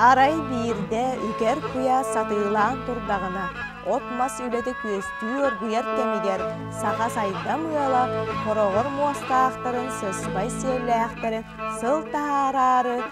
Арай биирдэ үкэр куйа сатыылаан турдаҕына от-мас үлэтэ күөстүү оргуйар кэмигэр саха сайдам ыала хороҕор муостаахтарын сыспай сиэллээхтэрин сыл таһаараары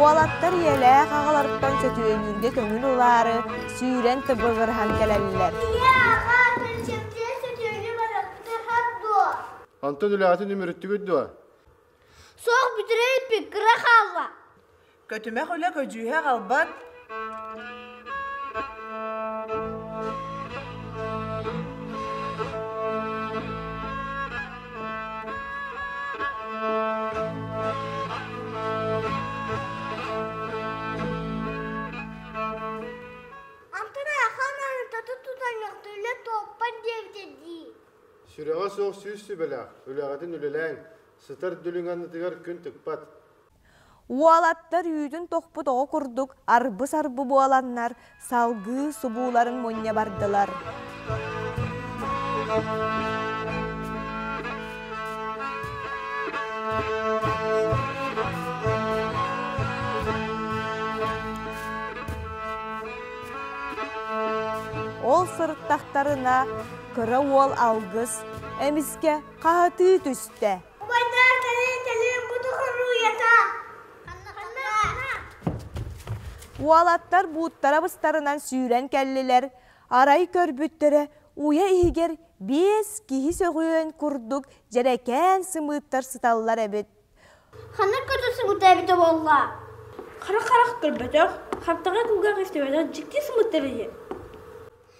Уолаттар ийэлээх аҕаларыттан сөтүөлүүргэ көҥүл ылаары, сүүрэн тыбыгырыһан кэлэллэр. Онтон үлэҕитин үмүрүттүгүт дуо? Суох бүтүрэ илпит кыра хаалла. Көтүмэх үлэ көдьүүһэ аҕалбат Сүрэҕэ суох сүүс сүбэлээх, үлэҕитин үлэлээҥ, сытар дүлүҥ аннытыгар күн тыкпат. Уолаттар үүтүн тохпут оҕо курдук арбы-сарбы буоланнар, салгыы субууларын мунньа бардылар. Ол сырыттахтарына, кыра уол алгыс, эмискэ хаһытыы түстэ. Уолаттар бууттара быстарынан сүүрэн кэллилэр. Арай көрбүттэрэ уйа иһигэр биэс киһи сөҕүөн курдук дьэрэкээн сымыыттар сыталлар эбит. Ханнык көрдөсүгүтэ эбитэ буолла? Харах-харах көрбөтөх, хаптаҕай кулгаах истибэтэх дьикти сымыыттар эһи.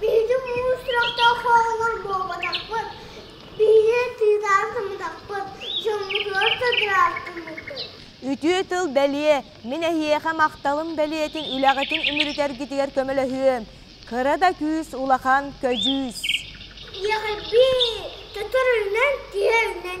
Биһиги муус сурахтаах оҕолор буолбатахпыт. Биһиги тыытаан сыммытахпыт, дьоммутугар тадыраахтыммыппыт. Үтүө тыл бэлиэ. Мин эһиэхэ махталым бэлиэтин үлэҕитин үмүрүтэргитигэр көмөлөһүөм. Кыра да күүс улахан көдьүүс. Ийэҕэрбии, көтөрүнэн, тиэринэн